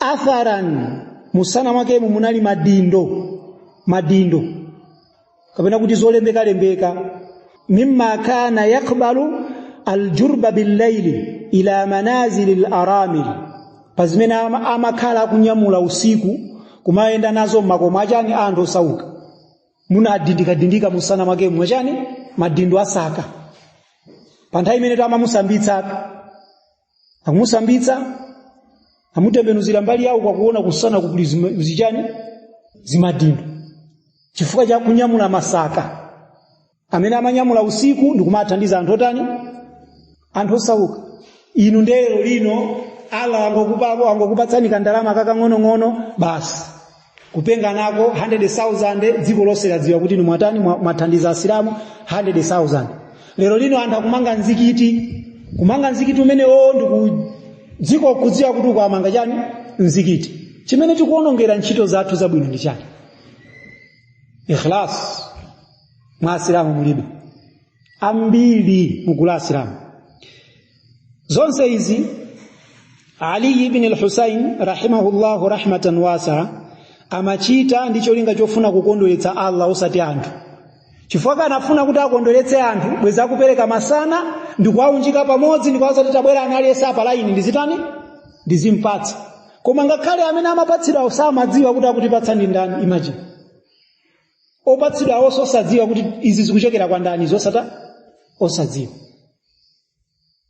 atharan mumsana mwakemo munali madindo madindo kapena kuti zolembekalembeka mimma kana yakbalu aljurba billaili ila manazili laramil pa zimene ama- amakhala akunyamula usiku kumayenda nazo m'makomo achani anthu osauka munadindikadindika mumsana mwakemo mwachani madindo a saka pa nthawi imene amamusambitsatu akumusambitsa amutembenuzira mbali yauko akuona kumsana kukuli zima- zichani zimadindo chifukwa cha kunyamula masaka amene amanyamula usiku ndikumawathandiza anthu otani anthu osauka inu nde lerolino allah angokupa angokupatsani kandalama kakang'onong'ono basi kupenga nako 100,000 dziko lonse ladziwa kuti mwatani mwathandiza asilamu 100,000 lero lino anthu akumanga mzikiti kumanga mzikiti umenewo ndi dziko kudziwa kuti ukamanga chani mzikiti chimene tikuonongera ntchito zathu zabwino ndi chani ikhlas mwa asilamu mulibe ambiri mugulu la asilamu zonse izi ali ibn al-husayn rahimahullahu rahmatan wasaa amachita ndi cholinga chofuna kukondweretsa allah osati anthu chifukwa akanafuna kuti akondweretse anthu bwezi akupereka masana ndi kuwaunjika pamodzi ndi kuwauza kuti tabwerani aliyense pa laini ndizitani ndizimpatsa koma ngakhale amene amapatsidwawo samadziwa kuti akutipatsa ndi ndani imagine opatsidwawo osadziwa kuti izi zikuchokera kwa ndani osatani osadziwa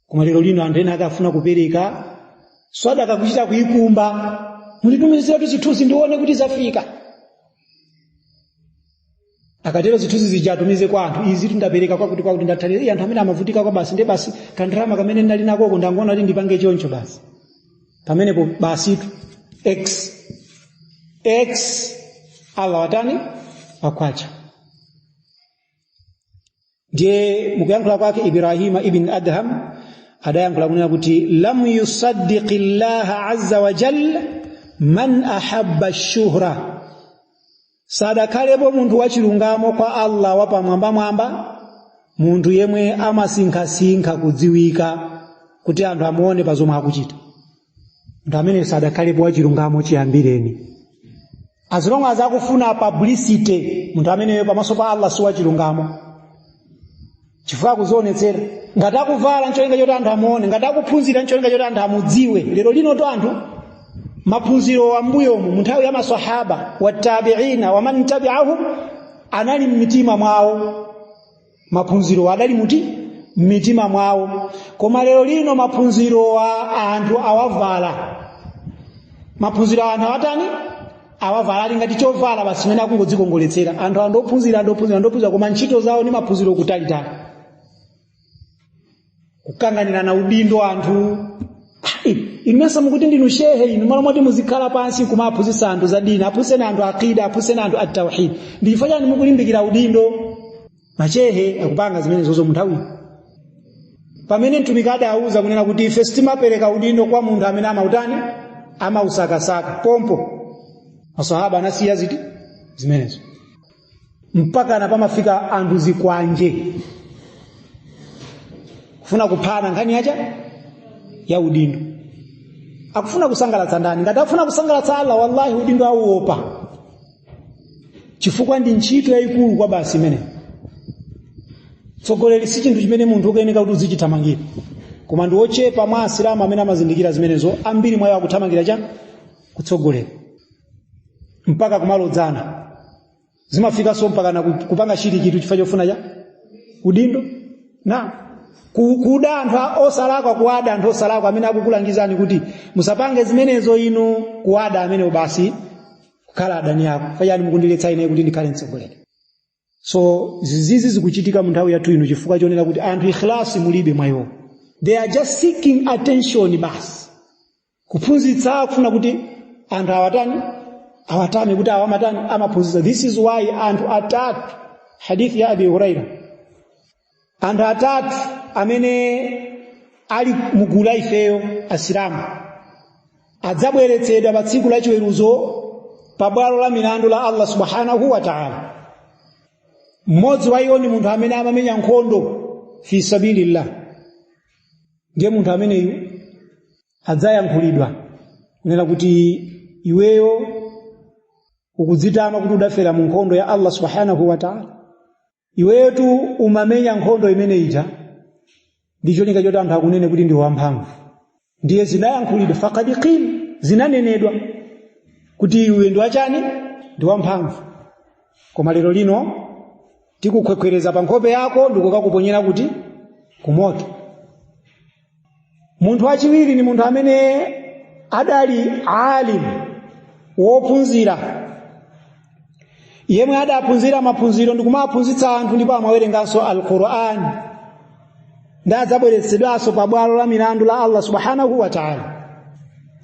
koma lero lino anthu ena akafuna kupereka sadaka kuchita kuyikumba munditumiziratu zithunzi ndione kuti zafika akatero zithunzi zija atumize kwa anthu izi tinapereka kwakuti kwakuti ndathandiza iye anthu amene amavutika kwa basi nde basi kandalama kamene ndinali nakoko ndangoona kuti ndipange choncho basi pamenepo basitu x x allah watani wakwacha ndiye mukuyankhula kwake ibrahima ibn adham adayankhula kunena kuti lam yasduqi llaha azza wa jalla man ahabba shuhra sadakhalepo munthu wachilungamo kwa allah wapamwambamwamba munthu yemwe amasinkhasinkha kudziwika kuti anthu amuone pa zomwe akuchita munthu amene sadakhalepo wachilungamo chiyambireni as long as akufuna publicity munthu ameneyo pamaso pa allah si wachilungamo chifukwa akuzionetsera ngati akuvala ncholinga choti anthu amuone ngati akuphunzira ncholinga choti anthu amudziwe lero linotu anthu maphunziro ambuyomu mu nthawi ya masahaba watabiina waman tabiahum anali mmitima mwawo maphunzirowa adali muti m'mitima mwawo koma lero lino maphunzirowa anthu awavala maphunzirowa anthu awatani awavala ali ngati chovala basi chimene akungodzikongoletsera anthu andophunzira andophunzira andophunzira koma ntchito zawo ndi maphunziro kutalitali kukanganirana udindo anthu imesa mukuti ndinu shehe inu malo moti muzikhala pansi kumaphunzitsa anthu za dini aphunzitseni anthu aqida aphunzitseni anthu tawhid ndi chifukwa chani mukulimbikira udindo mashehe akupanga zimenezozo munthawi pamene mtumiki adawuza kunena kuti ife sitimapereka udindo kwa munthu amene amautani amausakasaka pompo masahaba anasiya ziti zimenezo mpakana pamafika anthu zikwanje kufuna kuphana nkhani yachani ya udindo akufuna kusangalatsa ndani ngati akufuna kusangalatsa allah wallahi udindo auopa chifukwa ndi ntchito yayikulu kwabasi imeneyo utsogoleri si chinthu chimene munthu ukayeneka kuti uzichithamangira koma ndi ochepa mwa asilamu amene amazindikira zimenezo ambiri mwa iwo akuthamangira chani kutsogolera mpaka kumalodzana zimafikanso mpakana ku- kupanga chilikitu chifukwa chofuna chani udindo na ku- kuda anthu a- osalakwa kuwada anthu osalakwa amene akukulangizani kuti musapange zimenezo inu kuwada amene basi kukhala adani ako chifukwa chani mukundiletsa ine kuti ndikhale mtsogoleri so zizizi zikuchitika mu nthawi yathu ino chifukwa chonena kuti anthu ikhlasi mulibe mwa iwo they are just seeking attention basi kuphunzitsa akufuna kuti anthu awatani awatame kuti awa amatani amaphunzitsa this is why anthu atatu hadithi ya abi huraira anthu atatu amene ali mugulu la ifeyo asilamu adzabweretsedwa pa tsiku la chiweruzo pa bwalo la milandu la allah subhanahu wa taala mmodzi wa iwo ndi munthu amene amamenya nkhondo fi sabilillah ndiye munthu ameneyu adzayankhulidwa kunena kuti iweyo ukudzitama kuti udafera mu nkhondo ya allah subhanahu wa taala iweyotu umamenya nkhondo imene ija ndi cholinga choti anthu akunene kuti ndi wamphamvu ndiye zinayankhulidwa fakad qil zinanenedwa kuti iwe ndi wa chani ndi wamphamvu koma lero lino tikukhwekhwereza pa nkhope yako ndikukakuponyera kuti kumoto munthu wachiwiri ni munthu amene adali alim wophunzira yemwe adaphunzira maphunziro ndi kumaphunzitsa anthu ndipo amawerenganso alquran ndi adzabweretsedwanso pa bwalo la milandu la allah subhanahu wa taala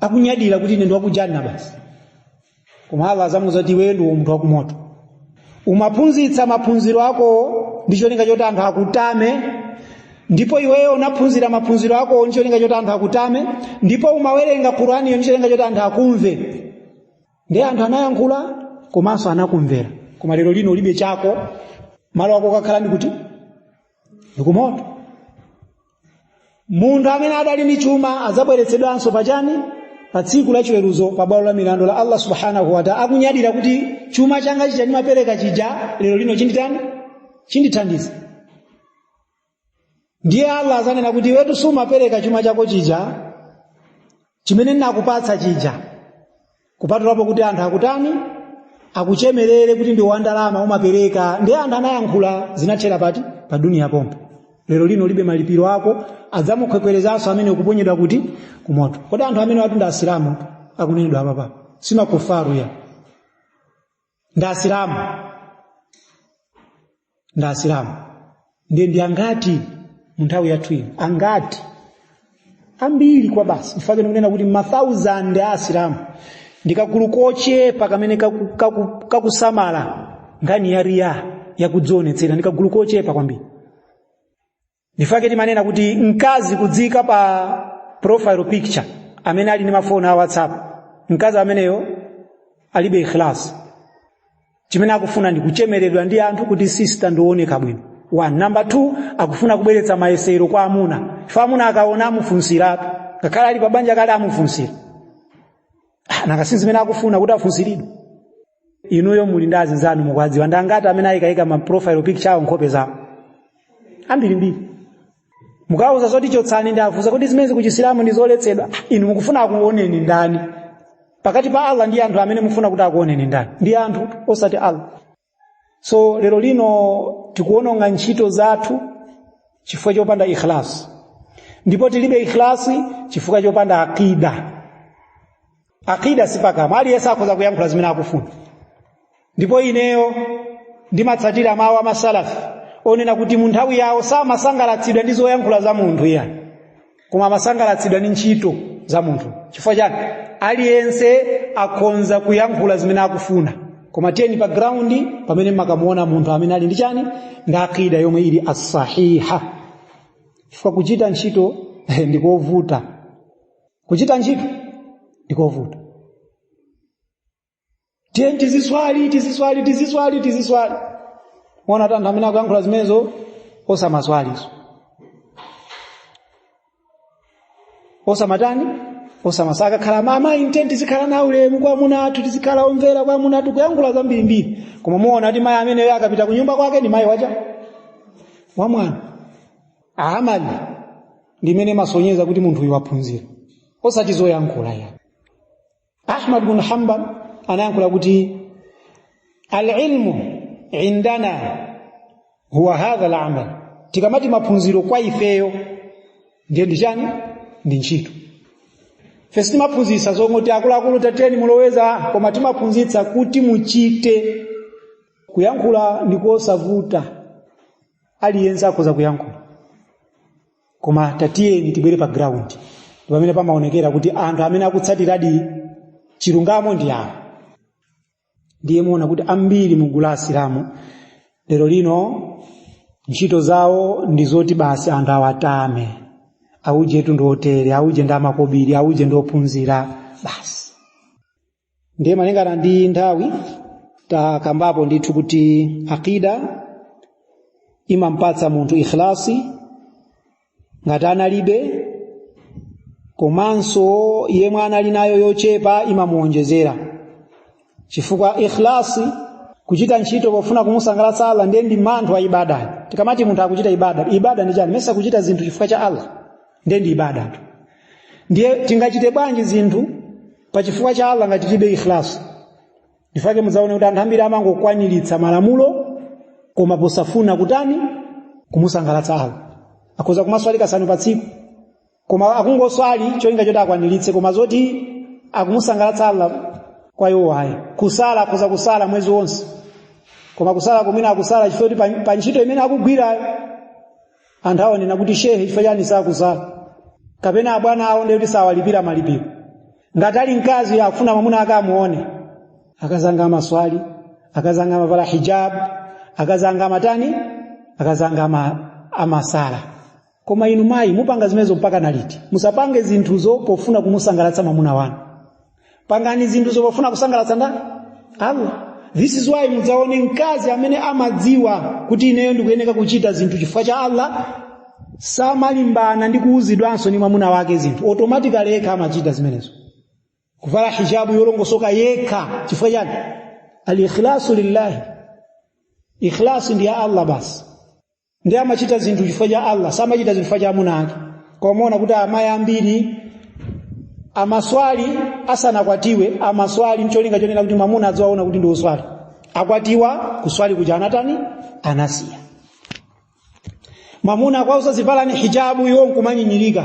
akunyadira kuti ine ndi wakujanna basi koma allah azamuza kuti iweyo ndiwe munthu wakumoto umaphunzitsa maphunziro akowo ndi cholinga choti anthu akutame ndipo iweyo unaphunzira maphunziro akowo ndi cholinga choti anthu akutame ndipo umawerenga quraniyo ndi cholinga choti anthu akumve ndiye anthu anayankhula komanso anakumvera koma lero lino ulibe chako malo ako okakhala ndi kuti ndikumoto munthu amene adali ndi chuma adzabweretsedwanso pa chani pa tsiku la chiweruzo pa bwalo la milandu la allah subhanahu wataala akunyadira kuti chuma changa chija ndimapereka chija lero lino chinditani chindithandiza ndiye allah azanena kuti iwetu sumapereka chuma chako chija chimene ndinakupatsa chija kupatulapo kuti anthu akutani akuchemerere kuti ndi wandalama umapereka ndi anthu anayankhula zinathera pati pa duniya pompo lero lino ulibe malipiro ako adzamukhwekhwerezanso ameneyu kuponyedwa kuti kumoto kodi anthu amenewatu ndi asilamu akunenedwa apapa si makufaru ya ndi asilamu ndi asilamu ndiye ndi angati mu nthawi yathu ino angati ambiri kwabasi mfake ndikunena kuti mathausand a asilamu ndi kagulu kochepa kamene kakusamala nkhani ya riya yakudzionetsera ndi kagulu kochepa kwambiri ndi mfake timanena kuti mkazi kudziika pa profile picture amene ali ndi mafoni a whatsapp mkazi ameneyo alibe ikhlas chimene akufuna ndi kuchemeredwa ndi anthu kuti sista ndi ooneka bwino one number two akufuna kubweretsa mayesero kwa amuna ife amuna akaona amufunsiratu ngakhale ali pabanja kale amufunsira nanga si zimene akufuna kuti afunsiridwe inuyo muli ndi azinzanu mukwadziwa ndi angati amene ayikayika ma profile picture awo nkhope zawo ambirimbiri mukawuza zoti chotsani ndiye afunsa kuti zimenezi kuchisilamu ndi zoletsedwa inu mukufuna akuoneni ndani pakati pa allah ndi anthu amene mukufuna kuti akuoneni ndani ndi anthu osati allah so lero lino tikuononga ntchito zathu chifukwa chopanda ikhlas ndipo tilibe ikhlasi chifukwa chopanda akida akida sipakamwa aliyense akhoza kuyankhula zimene akufuna ndipo ineyo ndimatsatira mawu a masalafi onena kuti mu nthawi yawo samasangalatsidwa ndi zoyankhula za munthu iya koma amasangalatsidwa ndi ntchito za munthu chifukwa chani aliyense akhonza kuyankhula zimene akufuna koma tiyeni pa graundi pamene mukamuona munthu amene ali ndi chani ndi akida yomwe ili asahiha chifukwa kuchita ntchito ndikovuta kuchita ntchito ndikovuta tiyeni tiziswali tiziswali tiziswali tiziswali muona kuti anthu amene akuyankhula zimenezo osamaswalizo osamatani osamaswali akakhala mama eeh tiyeni tizikhala na ulemu kwa amuna athu tizikhala omvera kwa amuna athu kuyankhula zambirimbiri koma muona kuti mayi ameneyo akapita kunyumba kwake ni mayi wacha wamwana amali ndi imene imasonyeza kuti munthuyu waphunzira osati zoyankhula ya ahmad bnu hambal anayankhula kuti alilmu indana huwa hadha lamal tikamati maphunziro kwa ifeyo ndiye ndi chani ndi ntchito ife sitimaphunzitsa zongoti akuluakulu tateni muloweza koma timaphunzitsa kuti muchite kuyankhula ndikosavuta aliyense akhoza kuyankhula koma tatiyeni tibwere pa ground ndi pamene pamaonekera kuti anthu amene akutsatiradi chilungamo ndi awo ndiye muona kuti ambiri mu gulu la asilamu lero lino ntchito zawo ndi zoti basi anthu awatame aujetu ndotere auje ndamakobiri auje ndophunzira basi ndiye malingana ndi nthawi takambapo ndithu kuti aqida imampatsa munthu ikhlasi ngati analibe komanso yemwe anali nayo yochepa imamuwonjezera chifukwa ikhlasi kuchita ntchito pofuna kumusangalatsa Allah ndiye ndi manthu wa ibada tikamati munthu akuchita ibada ibada ndi chani mesa kuchita zinthu chifukwa cha Allah ndiye ndi ibadatu ndiye tingachite bwanji zinthu pa chifukwa cha Allah ngati tilibe ikhlas ndifake mudzaone kuti anthu ambiri amangokwaniritsa malamulo koma posafuna kutani kumusangalatsa Allah akhoza kumaswali kasanu pa tsiku koma akungoswali cholinga choti akwaniritse koma zoti akumusangalatsa Allah kwa iwo ayi kusala akhoza kusala mwezi wonse koma kusala kumene akusala chifukwa kuti pa- pa ntchito imene akugwirayo anthu awonena kuti shehe chifukwa chani sakusala kapena abwana awo ndiye kuti sawalipira malipiro ngati ali mkazi akufuna mwamuna akamuone akazanga amaswali akazanga amavala hijab akazanga amatani akazanga ama, amasala koma inu mayi mupanga zimenezo mpaka naliti musapange zinthuzo pofuna kumusangalatsa mwamuna wanu pangani zinthuzo pofuna kusangalatsa ndani allah this is why mudzaone mkazi amene amadziwa kuti ineyo ndikuyeneka kuchita zinthu chifukwa cha allah samalimbana ndi kuuzidwanso ndi mwamuna wake zinthu automatically yekha amachita zimenezo kuvala hijabu yolongosoka yekha chifukwa chani alikhlasu lillahi ikhlasu ndi ya allah basi ndiye amachita zinthu chifukwa cha allah samachita zinthu chifukwa cha mwamuna wake koma muona kuti amayi ambiri amaswali asanakwatiwe amaswali mcholinga chonena kuti mwamuna adziwaona kuti ndi oswali akwatiwa kuswali kuja anatani anasiya mwamuna akuwauza zivalani hijabu iwo nkumanyinyirika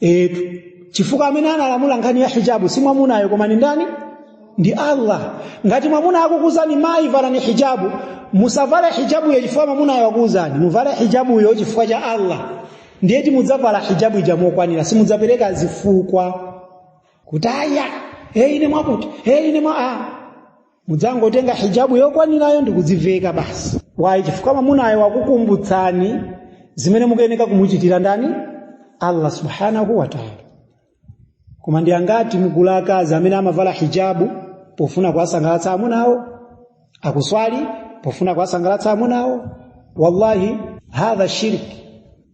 etu chifukwa amene analamula nkhani ya hijabu si mwamunayo koma ni ndani ndi allah ngati mwamuna akukuuzani mayi valani hijabu musavale hijabuyo chifukwa mwamunayo wakuuzani muvale hijabuyo chifukwa cha allah ndiye ti mudzavala hijabu ija mokwanira simudzapereka zifukwa kuti aya hey, ine mwakuti hey, ine mwa ah. mudzangotenga hijabu yokwanirayo ndi kudziveka basi wayi chifukwa mwamunayo wakukumbutsani zimene mukuyeneka kumuchitira ndani allah subhanahu wataala koma ndi angati mugula akazi amene amavala hijabu pofuna kuwasangalatsa amuna awo akuswali pofuna kuwasangalatsa amuna awo wallahi hadha shirki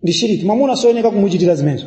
ndi shiriki mwamuna simuyeneka kumuchitira zimenezo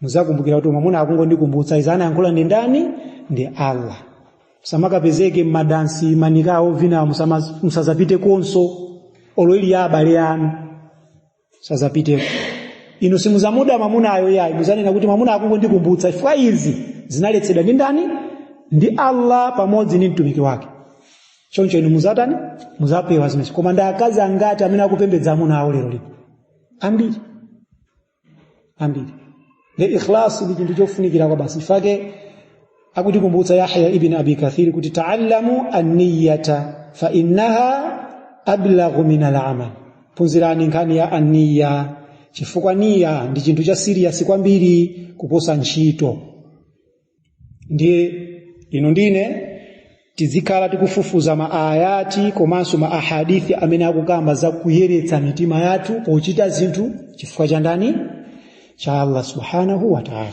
muzakumbukira kuti mwamuna akungondikumbutsa izi anayankhula ndi ndani ndi allah musamakapezeke mmadansi manikawo ovinawo musama- musazapitekonso olo ali ya abale anu musazapiteko inu simuzamuda mwamunayo yayi muzanena kuti mwamuna akungondikumbutsa chifukwa izi zinaletsedwa ndi ndani ndi allah pamodzi ndi mtumiki wake choncho inu muzatani muzapewa zimenezo koma ndi akazi angati amene akupembedza amuna awo lero lino ambiri ambiri le ikhlas ndi chinthu chofunikira kwabasi chifake akutikumbutsa yahya ibn abi kathir kuti taallamu anniyata fa innaha ablaghu min alamal phunzirani nkhani ya anniya chifukwa niya ndi chinthu cha siriyasi kwambiri kuposa ntchito ndiye inu ndine tizikhala tikufufuza maayati komanso ma ahadithi amene akukamba za kuyeretsa mitima yathu pochita zinthu chifukwa cha ndani cha allah subhanahu wa taala